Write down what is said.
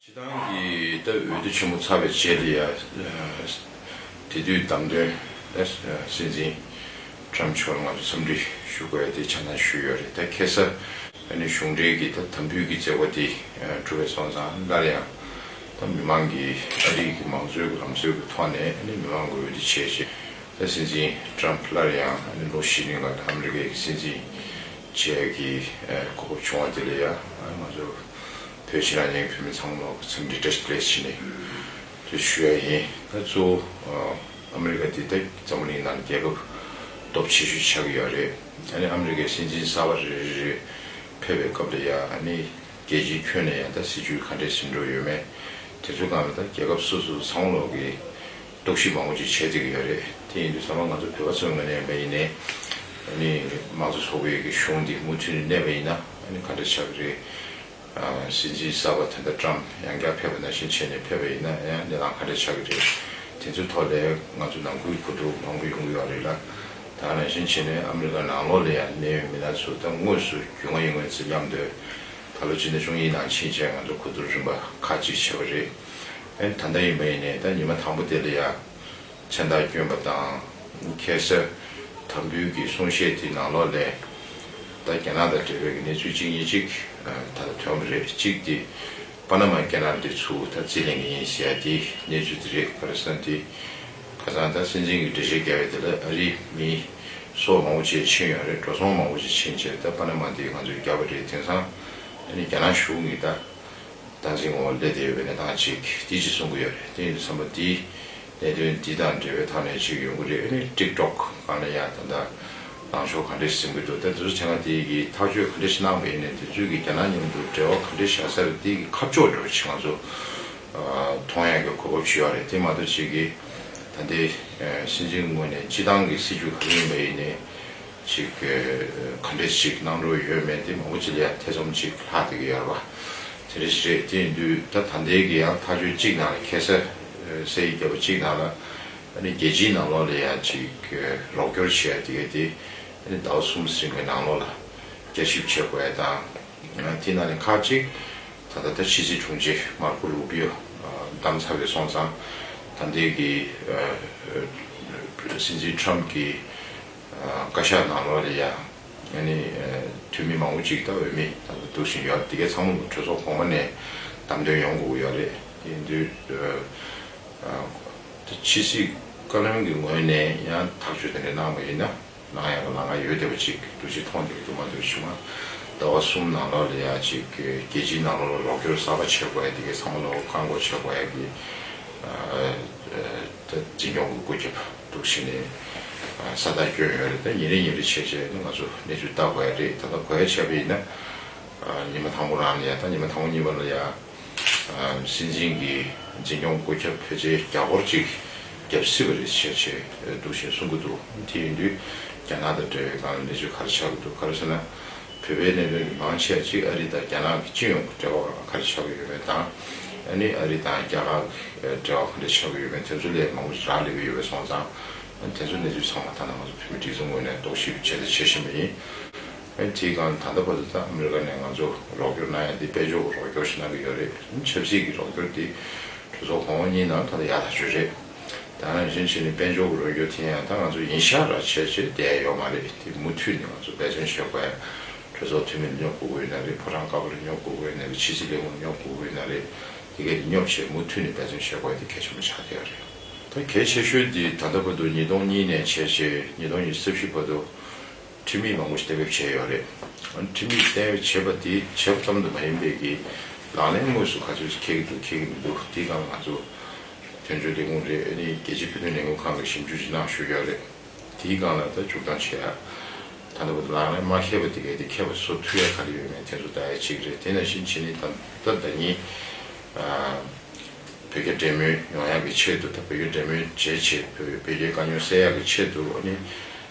སྤྱི་བཏང་གི་ད་འོས་བསྡུ་ཆེན་མོ་ཚར་བའི་རྗེས་དེ་ཡ་དེ་དུས་བདམས་ཐོན་ད་སྲིད་འཛིན Trump མཆོག་ལ་ང་ཚོ་འཚམས་འདྲི་ཞུ་དགོས་ཡ་དེ་ཆ་ཚང་ཞུས་ཡོད་རེད་ད་ཁེ་སར་ད་ནི་གཞུང་འབྲེལ་གྱི་ད་དམ་འབུལ་གྱི་བརྩེ་བ་དེ་གྲུབ་པའི་སོང་ཙང་སླར་ཡང་ད་མི་མང་གི་ཨ་རིག་གི་མང་གཙོའི་ལམ་སྲོལ་གྱི་ཐོག་ནས་ཨ་ནི་མི་མང་གི་འོས་བསྡུ་བྱས་རྗེས་ད་སྲིད་འཛིན Trump སླར་ཡང་ཨ་ནི་ལོ་བཞི་རིང་ལ་ད་ཨ་མི་རི་ཀའི་གི་སྲིད་འཛིན་བྱས་གི་གོ་སྐབས་བྱུང་བ་དེ་ལས་ཡ་ང་ཚོ་བོད་ཕྱི་ནང་གཉིས་བོད་མི་ཚང་མ་ལ་ཚིག་འདི་འདྲ་ཞིག་བཀླས་ཕྱིན་ནས་ཐོས་ཞུ་ཡ་ཡིན། ད་གཙོ་བོ་ཨ་མི་རི་ཀ་དེ་དག་འཛམ་བུ་གླིང་ནང་རྒྱལ་ཁབ་སྟོབས་ཆེ་ཤོས་ཆགས་ཀྱི་ཡོད་རེད་ཨ་ནི་ཨ་མི་རི་ཀའི་སྲིད་འཛིན་གསར་བ་རེ་རེ་རེ་ཕེབས་པའི་སྐབས་ལ་ཡ་ཨ་ནི་རྒྱལ་སྤྱིའི་ཁྱོན་ནས་ཡང་དག་སྲིད་བྱུས་ག་འདྲས་ཟིན་འགྲོ་ཡོད་མེད་དེ་ཚོ་གང་ལ་ད་རྒྱལ་ཁབ་སོ་སོ་ཚང་མ་ལོག་གི། རྟོག་ཞིབ་མང་པོ་ཅིག་བྱེད་བསྡད་ཀྱི་ཡོད་རེད། དེ་ཡིན་དུས་ཚང་མ་ང་ཚོ་བོད་པ་ཚོའི་ངོས་ནས་ཡིན་པ་ཡིན། དམངས་གཙོ་ཚོགས་པའི་གཞུང་འདི་མུ་མཐུད་ནས་གནས་པ་ཡིན་ན་ག་འདྲ་ཆགས་ཀྱི་རེད། སྲིད་འཛིན་གསར་པ་དེ་འདྲ་བཀྲམ་ཡང་བསྐྱར་ཕེབས་པ་ནང་བཞིན་བྱས་ནས་ཕེབས་པ་ཡིན་ན་ཡང་གནས་སྟངས་ག་འདྲ་ཆགས་ཀྱི་རེད། དེ་ཚོའི་ཐོག་ལས་ང་ཚོ་ནང་ཁུལ་གོ་བསྡུར་མང་པོ་ཡོང་གི་ཡོད་རེད་ལ། ད་ནང་བཞིན་བྱས་ནས་ཨ་མི་རི་ཀ་ནང་ལོགས་ལ་ཡང་གནས་ཡོད་མི་སྣ་ཚོ་ད་དངོས་སུ་རྒྱུས་མངའ་ཡིན་ངོས་ཚེ་སྙམ་འདོད། ད་ལོ་སྤྱི་ཟླ་བཅུ་གཉིས་ནང་ཕྱིན་ཆད་ང་ཚོ་གོ་བསྡུར་རིམ་པ་ཁག་ཅིག་བྱས་པ་རེད། ཨེ། ད་ལྟ་ཡིན་པ་ཡིན་ནས་ད་ཉི་མ་དང་པོ་དེ་ལ་ཡང་མཚན་རྟགས་བསྐྱོན་པ་དང། ཁྱད་གསར་དམ་འབུལ་གྱི་གསུང་བཤད་དེའི་ནང་ལོགས་ལས། ད་རྒྱ་ནག་དང་འབྲེལ་བའི་གནས་ཚུལ་གཅིག་གཉིས་གཅིག་ད་ལྟ་ཐོན་གི་རེད་གཅིག་དེ། པ་ན་མ་རྒྱ་ནག་འདི་ཚུ་ད་རྩིས་ལེན་གི་ཡིན་ཟེར་ཡ་དེ་གནས་ཚུལ་དེ་རེད་པར་སན་དེ། ཁ་སང་ད་སྲིད་འཛིན་གྱི་འགྲེལ་བཤད་རྒྱ་བའི་དེ་ལ་ཨ་རི་མི། སོགས་མང་བོ་བྱས་ཕྱིན་ཡོད་རེད་འགྲོ་སོང་མང་བོ་བྱས་ཕྱིན་བྱས་ད་པ་ན་མ་འདི་ང་ཚོས་རྒྱབ་པ་རེད་དེང་སང་ཨ་ནི་རྒྱ་ནག་གཞུང་གི་ད། བཏང་འཛིན་ངོ་སླེབས་དེ་བའི་གནས་སྟངས་ཅིག་དེ་ཅིག་གསུང་གི་ཡོད་རེད་དེ་ཡིན་དུ་བསམ་པ་འདི་གནད་དོན་འདི་དང་འབྲེལ་བའི་ཐག་ནས་ཅིག་ཡོང་གི་རེད་རེད་དཀྲིགས་དཀྲོག་གང་ལ་ཡང་ད་ལྟ་ལངས་ཕྱོགས་ག་འདྲས་ཟིན་གི་འདུག་ད་དེ་ཚོ་བྱས་ན་དེ་གི་ཐག་གཅོད་ག་འདྲས་ཤིག་གནང་བའི་ནས་དེ་ཚོས་གི་རྒྱ་ནག་མཉམ་དུ་འབྲེལ་བ་ག་འདྲས་བྱ་ས་རེད་དེ་གི་ཁ་ཕྱོགས་འགྲོ་ཆེད་ང་ཚོ་མཐོང་ཡག་གི་གོ་བབ་ཞུ་ཡག་རེད་དེ་མ་གཏོགས་ཅིག་གི་ད་ལྟའི་སྲིད་འཛིན་ངོས་ནས་སྤྱི་བཏང་གི་སྲིད་བྱུས་ག་རེ་ཡིན་པ་ཡིན་ནས། ཅིག་ག་འདྲས་ཤིག་གནང་འགྲོ་ཡོད་མེད་དེ་མང་པོ་ཅི་ལ་ཡང་ཐེ་ཚོམ་ཅིག་ལྷག་འདུག་གི་ཡ་རབ་ཨ། དེ་འདྲ་ཞིག་རེད་དེ་ཡིན་དུས་ད་ད་འདས་ཀྱི་ཡང་ཐག་གཅོད་གཅིག་གནང་ལ་ཁེ་སེ་སེ་ཡི་རྒྱལ་པོ་གཅིག་གནང་ལ་ཨ་ནི་རྒྱལ་སྤྱིའི་ནང་ལོགས་ལ་ཡང་ཅིག་རོགས་སྐྱོར་བྱས་ཡ་དེ་གས་དེ་ཨ་ནི་ཟླ་བ་གསུམ་ཟིན་གི་ནང་ལོགས་ལ་བསྐྱར་ཞིབ་བྱེད་དགོས་ཡ་དང་དེ་ནང་ནས་ཁག་ཅིག་ད་ད་ལྟ་ཕྱི་སྲིད་དྲུང་ཆེ་མར་ཁོ་རུ་བྷི་ཡོ་བདམས་ཚར་བས་སོང་ཙང་ད་འདས་ཀྱི་སྲིད་འཛིན་ཁྲམ་གྱི་བཀའ་ཤག་ནང་ལོགས་ལས་ཡང་འཐུས་མི་མང་པོ་ཅིག་ད་འོས་མི་དང་ལ་འདུག་བཞིན་ཡོད་དེ་གས་ཚང་མ་གྲོས་ཚོགས་གོང་མ་ནས་གདམ་དོན་ཡོང་དགོས་ཀྱི་ཡོད་རེད་དེ་འདུག་ད་ཕྱི་སྲིད་བཀའ་བློན་གྱི་ངོས་ནས་ཡང་ཐག་གཅོད་དེ་འདྲ་གནང་བ་ཡིན་ན་ནང་ཡང་གི་ལང་ཀ་ཡོད་བསྡད་པ་ཅིག་འདུག་ཅིག་མཐོང་བསྡད་པ་འདུག་མ་འདུག་ཕྱི་མ་ཟླ་བ་གསུམ་ནང་ལོགས་ལས་ཡང་ཅིག་རྒྱལ་སྤྱིའི་ནང་ལོགས་ལ་རོགས་སྐྱོར་གསར་པ་བྱེད་དགོས་ཡ་དེ་གས་ཚང་མ་ལོགས་བཀའ་འགོག་བྱེད་དགོས་ཡ་གི་ད་འཛིན་སྐྱོང་གི་སྐུ་ཁྱབ། འདུག་ཕྱི་ནས་ས་བདག་སྐྱོན་ཡོད་རེད་ད་ཉིན་རེ་ཉིན་རེ་བྱས་བྱས་ན་ང་ཚོ་གནས་ཚུལ་ལྟ་དགོས་ཡ་རེད་ད་ལྟ་གོ་ཡ་བྱས་པ་ཡིན་ན་ཉི་མ་དང་པོ་རང་ལ་ཡ་ད་ཉི་མ་དང་པོ་གཉིས་པ་ལ་ཡ་སྲིད་འཛིན་གྱི་འཛིན་སྐྱོང་བཀོད་ཁྱབ་བོད་ཆས་རྒྱ་སྒོར་གཅིག་བརྒྱབ་སྲིད་པ་རེད་བྱས་བྱས་འདུག་བཞིན་གསུང་གི་འདུག་དེ་ཡིན་དུས་རྒྱ་ནག་དང་འབྲེལ་བའི་སྒང་ལ་གནས་ཚུལ་ག་རེ་ཆགས་ཀྱི་འདུག་ག་རེ་ཟེར་ན། བོད་པའི་གནད་དོན་གྱི་མང་ཆེ་བ་གཅིག་ཨ་རི་དང་རྒྱ་ནག་གི་སྤྱི་ཡོངས་ཀྱི་འབྲེལ་བ་གང་ཁ་རེ་ཆགས་ཀྱི་ཡོད་མེད་དང། ནི་ཨ་རི་དང་རྒྱ་གར་གྱི་འབྲེལ་བ་གང་འདྲ་ཆགས་ཀྱི་ཡོད་མེད་དེ་ཚོ་ལས་མང་པོ་ཞིག་རག་ལས་པའི་ཡོད་པས་སོང་ཙང། དེ་ཚོ་གནས་ཚུལ་ཚང་མ་ལྟར་ན་ང་ཚོ་བོད་མི་སྒྲིག་འཛུགས་ངོས་ནས་རྟོག་ཞིབ་བྱས་ཏེ་བྱེད་བཞིན་པ་ཡིན། དེའི་སྒང་ད་ལྟ་བར་དུ་ད་ཨ་མི་རི་ཀ་ནས་ང་ཚོ་རོགས་སྐྱོར་གནང་ཡ་དེ་དཔལ་འབྱོར་གྱི་རོགས་སྐྱོར་ཞིག་གནང་གི་ཡོད་རེད། ཆབ་སྲིད་ཀྱི་རོགས་སྐྱོར་དེ་གྲོས་ཚོགས་གོང་འོག་གཉིས་ནང་ད་ལྟ་ཡག་ཐག་ཆོད་རེད། ད་རང་བཞིན་གྱིས་ནི་དཔལ་འབྱོར་གྱི་རོགས་སྐྱོར་དེ་ཡང་ད་ང་ཚོ་ཡིན་ཤག་ར་བྱས་རྗེས་བསྡད་ཡོད་མ་རེད་དེ་མུ་མཐུད་ནས་ང་ཚོ་འབད་བརྩོན་བྱེད་དགོས་ཡ། གྲོས་ཚོགས་འཐུས་མི་ལ་སྙོབ་དགོས་དགོས་ཡོད་ན་རེད་ཕོ་བྲང་ཀ་བ་ལ་སྙོབ་དགོས་དགོས་ཡོད་ན་རེད་ཕྱི་སྲིད་ལས་ཁུངས་ལ་སྙོབ་དགོས་དགོས་ཡོད་ན་རེད་དེ་སྐད་དེ་སྙོབ་ཆེད་མུ་མཐུད་ནས་འབད་བརྩོན་བྱེད་དགོས་ཡ་དེ་གལ་ཆེན་པོ་ཆགས་བསྡད་ཡོད་རེད། ད་གལ་ཆེ་ཤོས་དེ་ད་ལྟ་བར་དུ་ཉིས་སྟོང་གཉིས་ནས་བྱས་རྗེས་ཉིས་སྟོང་ཉི་ས་བཞི་བར་དུ། ཁྲིམས་ཡིག་མང་པོ་གཏན་འབེབས་བྱས་ཡོད་རེད། ཁྲིམས་ཡིག་གཏན་འབེབས་བྱས་པ་དེ་བྱས་པ་ཙམ་དུ་མ་ཡིན་པའི་གི་ལག་ལེན་དངོས་སུ་ག་ཚོད་ཅིག་འཁེལ་གྱི་འདུག་འཁེལ་གྱི་མི་འདུག་དེ་གང་ང་ཚོ་དོན་གཅོད་ལས་ཁུངས་རེད་ནི་རྒྱལ་སྤྱིའི་ཕུགས་འདུན་ལས་འགུལ་ཁང་གི་ཞིབ་འཇུག་ཅིག་གནང་ཞུས་ཡོད་རེད། དེའི་སྒང་ལ་ད་འཇུག་སྟངས་བྱས་ཡ། ད་ལྟ་བུ་དེ་ལག་ལེན་མ་འཁེལ་པ་དེ་གས་དེ་འཁེལ་བ་སོགས་ཐུགས་ཡ་ག་རེ་ཡོད་མེད་དེ་ཚོ་ད་ཡ་གཅིག་རེད་དེ་ན་བཞིན་བྱས་ནི་ད་ལྟ་ད་ཉིད་བོད་རྒྱ་འབྲེལ་མོལ་ཡོང་ཡག་གི་ཆེད་དུ་ད་བོད་རྒྱ་འབྲེལ་མོལ་བྱས་བྱས་བོད་རྒྱའི་དཀའ་རྙོག་སེལ་ཡག་གི་ཆེད་དུ་ནི།